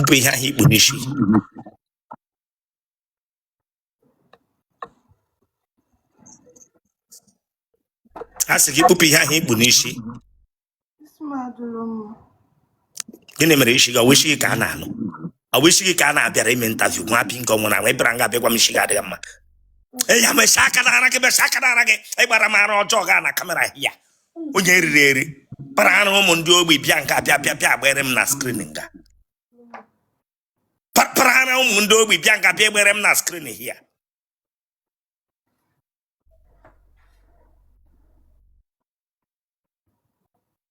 bụ ihe ahụ i kpu n'isi a sị gị kpupụ ihe ahụ i kpu n'isi gịnị mere isi gị ọ wụ isi gị ka a na-anụ ọ bụ isi gị ka a na-abịara ime interview nwa bingo nwụrụ anwụ bịara nga bịakwa m isi gị adịghị mma ya mesi aka n'ara gị mesi aka n'ara gị ị gbara m ara ọjọọ gaa na camera ya onye riri eri kpara ara ụmụ ndị ogbi bịa nga bịa bịa bịa gbere m na screen nga kpara ara ụmụ ndị ogbi bịa nga bịa gbere m na screen ya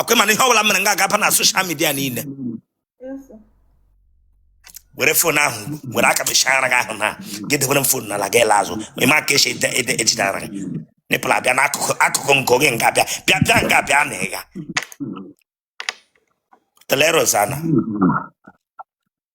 ọkwa ị ma na ihe ọbụla mere nga agaba na social media niile were phone ahụ were aka mechara gị ahụ na gị debere m phone n'ala gị la azụ ị ma ka esi ede ede ejidara gị nipple abịa n'akụkụ akụkụ nke oge nga bịa bịa bịa nga bịa na ịga teleros ana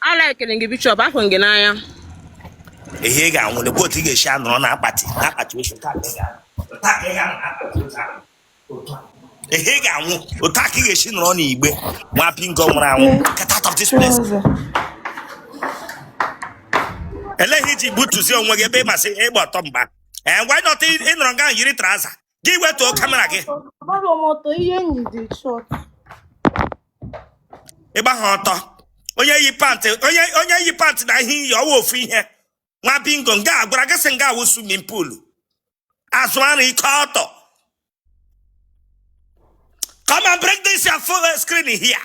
ala ekele gị bishop ahụ gị n'anya ihe ị ga-anwụle bụ otu ị ga-esi anọrọ na akpati na akpati ozu taa ka ị ga-anọ. Taa ka ị ga-anọ na akpati ozu ahụ. Otu a. ihe ị ga-anwụ otu a ka ị ga-esi nọrọ n'igbe nwa bingo nwụrụ anwụ get out of this place eleghị iji gbutuzie onwe gị ebe ị ma sị ịgba ọtọ mgba ee ngwa ịnọta ịnọrọ nga ahụ yiri trouser gị wetuo camera gị Agbara m ọtọ ihe m yi dị short. ị gbaghị ọtọ onye yi pant onye onye yi pant na ihe i yi ọ wụ ofu ihe nwa bingo nga a gwara gị sị nga a wụ swimming pool azụ ara ike ọtọ come and bring this your phone screen here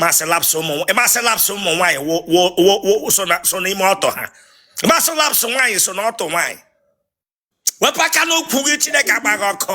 ma sị laps ụmụ ma sị laps ụmụ nwaanyị so n'ime ọtọ ha ma sị laps nwaanyị so n'ọtọ nwaanyị wepụ aka n'ukwu gị chineke agba gị ọkụ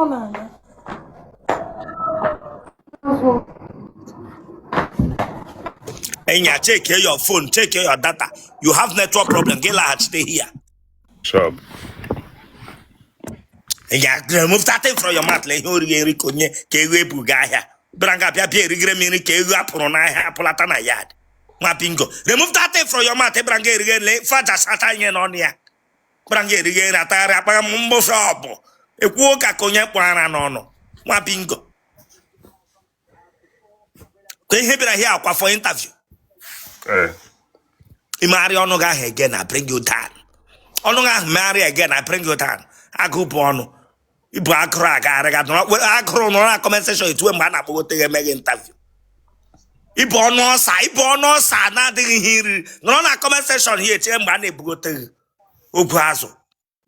ọ na-aga Enya, check here your phone, check here your data. You have network problem. Get like stay here. Sure. Enya, remove that thing from your mouth. Let you read it. Konye, kewe bugaya. Branga pia pia rigre mini kewe apuro na ha apulata na yard. nwa bingo remove that thing from your mouth ị bịara nga erighe nri ife aja sata ihe n'ọnụ ya bịara nga erighe nri atagharị akpagha m mbofe ọbụ ekwuo ka ka onye kpọrọ ara n'ọnụ nwa bingo ka ihe bịara here ọkwa for interview Eh, i megharịa ọnụ gị ahụ again I bring you down ọnụ gị ahụ megharị again I bring you down agụ bụ ọnụ i bu agụrụ aga arịga agụrụ nọrọ na comment section echewe mgbe a na-akpọgote gị eme gị interview i bu ọnụ ọsa i bu ọnụ ọsa na-adịghị ihe i riri nọrọ na comment section ya echere mgbe a na-ebugote gị ogwu azụ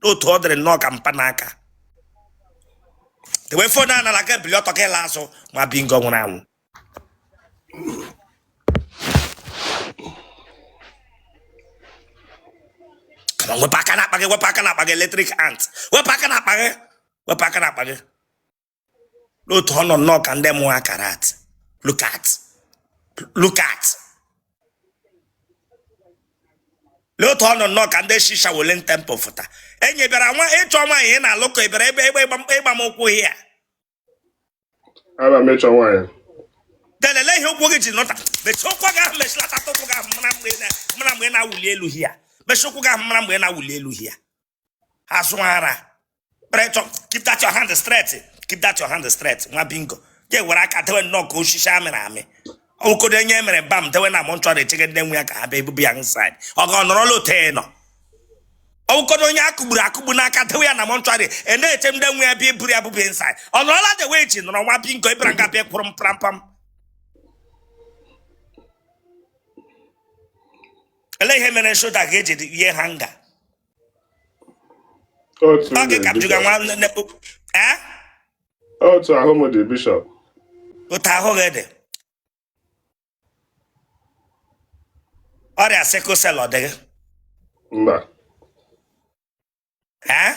n'otu ọ dịrị nnọọ ka mpanaka dewe phone n'ala gị ebili ọtọ gị la azụ nwa bingo nwụrụ anwụ wepụ aka n'akpa gị wepụ aka n'akpa gị electric ant wepụ aka n'akpa gị wepụ aka n'akpa gị lee otu ọ nọ nnọọ ka ndị mụọ akara at look at look at lee otu ọ nọ nnọọ ka ndị shi Shaolin Temple fụta enyi ị bịara nga ịchọ nwaanyị ị na-alụ ka ị bịara ịgba m ụkwụ ya Ana m ịchọ nwaanyị. Delele ihe ụkwụ gị ji nọta. Mechie ụkwụ gị ahụ mechilata ụkwụ gị ahụ mara mgbe mara mgbe na-awụli elu hia. Mechie ụkwụ gị ahụ mara mgbe na-awụli elu hia. Azụ ara. Pressure. Keep that your hand straight. Keep that your hand straight. Nwa bingo. Ga-ewere aka dewe nnọọ ka osisi amịrị amị. ka ọ dị onye e mere embalm dewe na mortuary echege ndị nwe ya ka ha bịa eburu ya nsaid ọ ga ọnọrọla otu ị nọ ọ wụ ka ọ dị onye a kụgburu akụgbu n'aka dewe ya na mortuary a na-eche ndị nwe ya bịa eburu ya bụbụ nsaid ọ nọrọla dewe eji nọrọ nwa bingo ị bịara nga bịa kwụrụ m prampam ele ihe mere shoulder ga-eji ihe ha nga otu ọ gị ka m jụga nwa nne eh? otu ahụ m dị bishọp otu ahụ gị dị ọrịa sickle cell ọ dịghị mba ee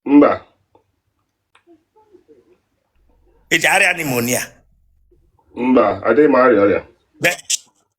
mba ị ji arịa pneumonia mba adịghị m arịa ọrịa Be-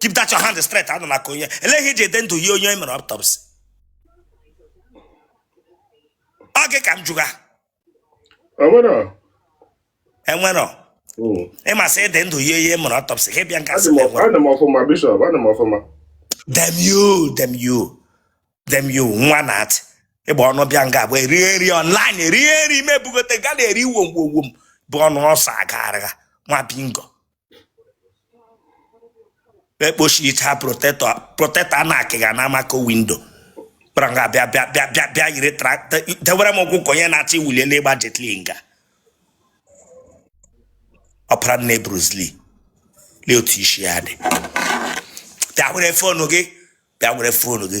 keep that your hand straight anụ maka onye elee ihe i ji dị ndụ yie onye e mere autopsy ọ gị ka m jụga enwero hmm. ị ma sị ị dị ndụ yie onye e mere autopsy gị bịa nga damn you damn you damn you nwa na atị ịgba ọnụ bịa nga bụ eri eri online eri eri mebugote ga na-eri wom wom wom bụ ọnụ ọsọ agagharịga nwa bingo ekpochicha protector protector a na-akụga na amako window kpara nga bịa bịa bịa bịa bịa yiri tractor dewere m ụkwụ ka onye na-achọ ịwụli elu ịgba Jet Li nga ọpara nne Bruce Lee lee otu isi ya dị bịa were phone gị bịa were phone gị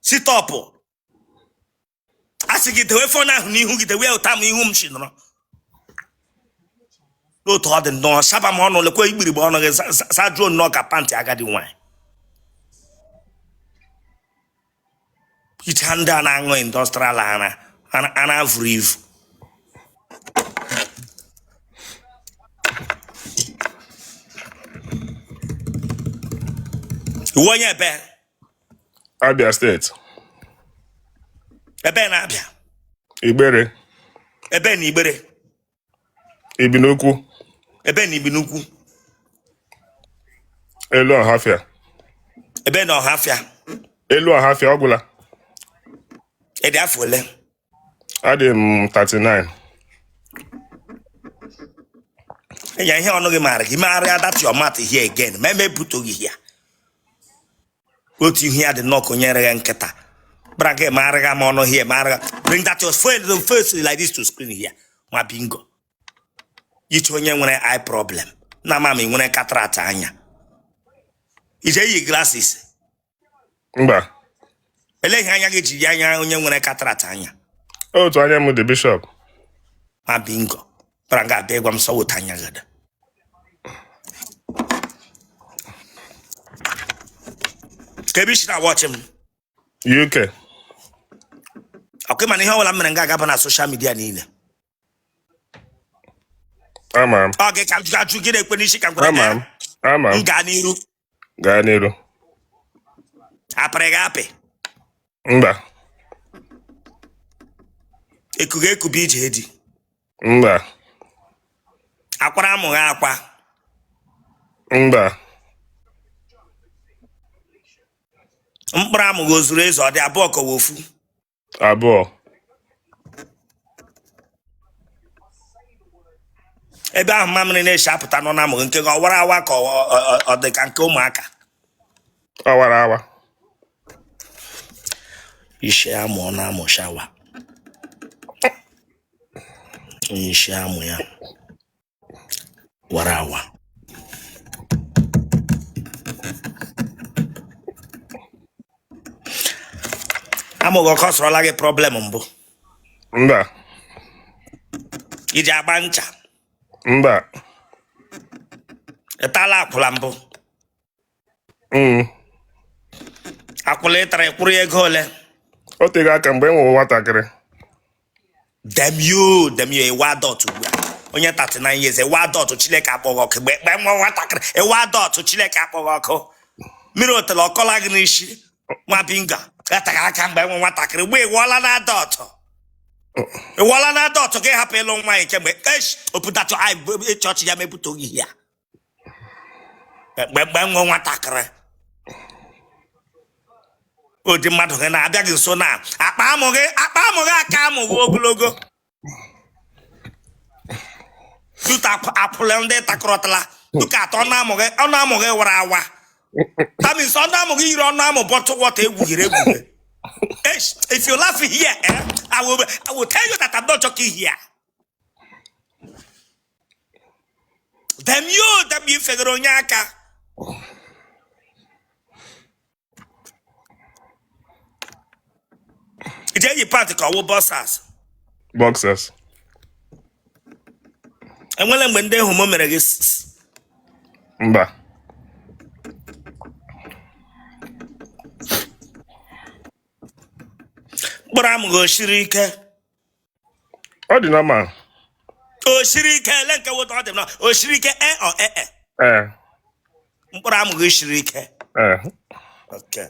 sit up a sị gị dewe phone ahụ n'ihu gị dewe ụta m ihu m si nọrọ lee otu ọ dị nnọọ saba m ọnụ lekwa igbirigbe ọnụ gị zajuo nnọọ ka pant agadi nwanyị icha ndị a na-aṅụ industrial ara ara vuru ivu ị wụ onye ebee Abia steeti. Ebee na Abia. Igbere. Ebee na Igbere. Ibinukwu. Ebee na Ibinukwu. Elu Ọhafịa. Ebee na Ọhafịa. Elu Ọhafịa ọ gwụla. Ị dị afọ ole? adị m 39 years ihe ọnụ gị maara gị megharịa that your mouth here again ma eme ebutoghị ya otu ihu ya dị nnọọ ka onye re ya nkịta gbara gị megharịa ma ọnụ here megharịa bring that your phone the face like this to screen here nwa bingo iche onye nwere eye problem na ama m ị nwere cataract anya i ji eyi glasses mba Olee ihe anya gị ji dị anya onye nwere cataract anya? otu anya m dị bishop Nwa bingo. Bara nga abịa ịgwa m sị ọ wụ otu anya gị dị. Ka ebe isi na-awọchị m. uk Ọkụ mana ihe ọbụla m mere nga a gaba na social media niile. ama m Ọ gị ka m jụga ajụ gị na-ekwe n'isi ka m gwara ama m gị. ama M m gaa n'iru. gaa n'iru a pịrị gị apị mba e ku gị ekube ije di mba a kwara amụ gị akwa mba mkpụrụ amụ gị o zuru ezu ọ dị abụọ ka ọ wụ ofu abụọ ebe ahụ mamịrị na-esi apụta nọ n'amụ gị nke gị ọ wara awa ka ọ- ọ- ọ- ọ dị ka nke ụmụaka ọ wara awa isi amụ ọ na-amụ shawa isi amụ ya wara awa amụ gị ọ cause-ọrọla gị problem mbụ mba i ji agba ncha mba ị tala akwụla mbụ Mm. akwụla ị tara ị kwụrụ ya ego ole o teghị aka mgbe e nwere nwatakịrị demio demio ị wụ adult ugbu a onye 39 years ị wụ adult Chineke kpọọ gị ọkụ mgbe mgbe m wụ nwatakịrị ị wụ adult Chineke kpọọ gị ọkụ mmiri otele akọla gị n'isi nwa bingo gataghị aka mgbe m wụ nwatakịrị mgbe ị wụọla an adult ị wụọla an adult gị hapụ ịlụ nwa ya kemgbe esh ọ pụtatụ chọọchị ya mepụta oge ya mgbe nwe nwatakịrị ụdị mmadụ gị na-abịa gị nso na akpa amụ gị akpa amụ gị aka amụ gị ogologo tuta akwụla ndị takọrọtala tuka atọ ọnụ amụ gị ọnụ amụ gị wara awa tamis ọnụ amụ gị yiri ọnụ amụ bọtụ wọta egwughịrị egwughị if you laugh here eh, I, will, I will tell you that I'm not joking here damn you damn i fegara onye aka ị ji eyi pant ka ọ wụ boxers boxers e nwere mgbe ndị homo mere gị s- s- mba mkpụrụ amụ gị o siri ike ọ dị na ma o siri ike ele nke weta ọ dị na o siri ike e ọ e e ee mkpụrụ amụ gị siri ike ee oke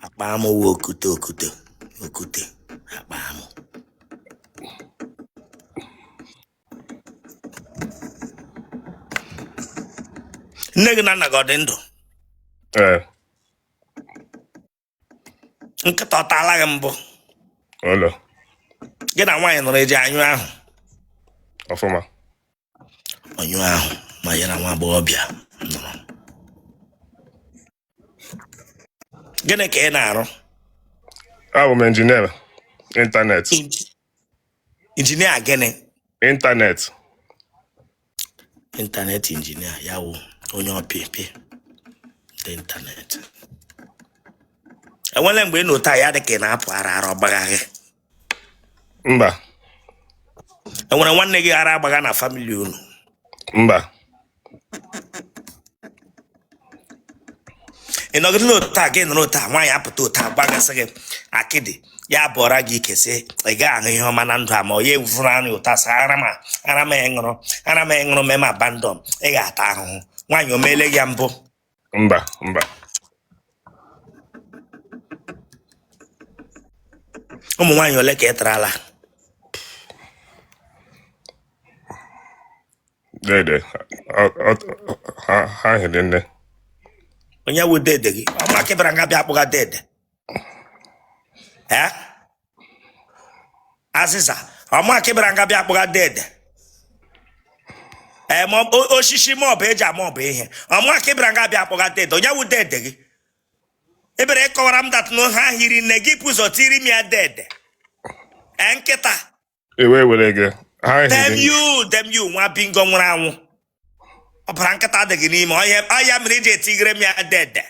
akpa amụ wụ okute okute okute akpa amụ nne gị na nna gị ọ dị ndụ ee nkịta ọ taala gị mbụ Ọlọ, gị na nwaanyị nọrọ ị ji anyụ ahụ ọfụma. ọnyụ ahụ ma ya na nwa agbọghọbịa nọrọ gịnị ka ị na-arụ Abụ m injinia ịntanetị. Inji- injinia gịnị ịntanetị ịntanetị injinia ya wụ onye ọpịpị dị ịntanetị e nwere mgbe ị nọ otu a ya dị ka ị na-apụ ara ara ọ gbagha gị mba e nwere nwanne gị ara agbagha na famili unu mba ị nọgidela otu a gị nọrọ otu a nwaanyị apụta otu a gbagasị gị akịdị ya bọọra gị ike sị ị gaghị ahụ ihe ọma na ndụ a ma ọ ya evuru ara otu a sị ara m a ara m a ị ṅụrụ ara m a ị ṅụrụ mee m abandon ị ga-ata ahụhụ nwaanyị o meele gị mbụ mba mba ụmụ nwaanyị ole ka ị tarala dede ọ- ọ- ha ha hiri nne onye wụ dede gị ọ mụ ka ị bịara nga bịa akpọga dede ee azịza ọ mụ ka ị bịara nga bịa akpọga dede ee ma ọ- o- osisi ma ọ bụ eji ma ọ bụ ihe ọ mụ ka ị bịara nga bịa akpọga dede onye wụ dede gị ebere ị kọwara m that na ha hiri nne gị bu ụzọ tiri m ya dede ee nkịta ewe were gị ha dem ehiri you dem you nwa bingo nwụrụ anwụ ọbara nkịta adị gị n'ime ọ ya mere i ji etigere m ya dede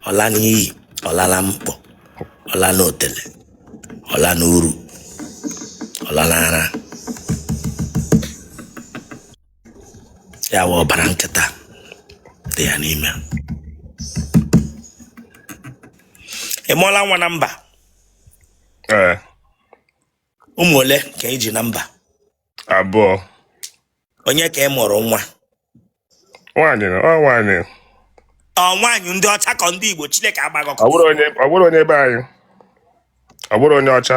ọla n'iyi ọla na mkpọ ọla n'otele ọla n'uru ọla n'ara ya wụ ọbara nkịta dị ya n'ime ị mụọla nwa na mba ee ụmụ ole ka ị ji na mba abụọ onye ka ị mụrụ nwa nwaanyị na- ọ nwaanyị ọ nwaanyị ndị ọcha ka ndị igbo chineke agba gị ọkụ ọ bụrụ onye ọ bụrụ onye be anyị ọ bụrụ onye ọcha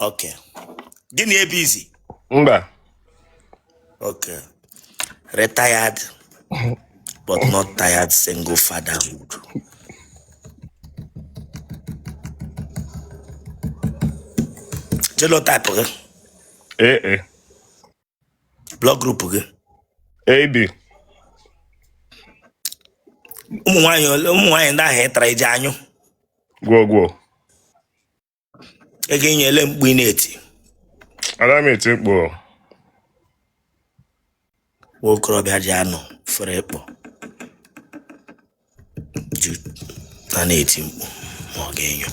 Okay. Gị na ya ebizi? Mba. Okay. Retired but not tired single fatherhood. Genotype gị? Ee. AA. Blood group gị? AB. Ụmụ nwaanyị ndị ahụ ịtara iji anyụ? Gwogwo. ị ga-enyo ele mkpu ị na-eti Ada m eti mkpu o. nwa okorobịa ji anụ fere ịkpọ ju na na-eti mkpu ma ọ ga-enyo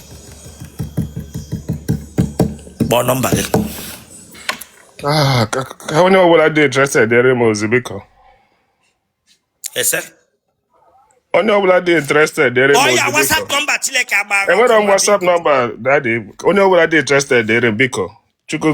kpọọ nọmba gị Ah, ka ka onye ọbụla dị interested dere m ozi biko ese onye ọbụla dị interested dere m ọ ya ozi biko whatsapp nọmba chineke agbara enwere ọkụ m ma whatsapp biko nọmba dadị onye ọbụla dị interested dere m biko chukwu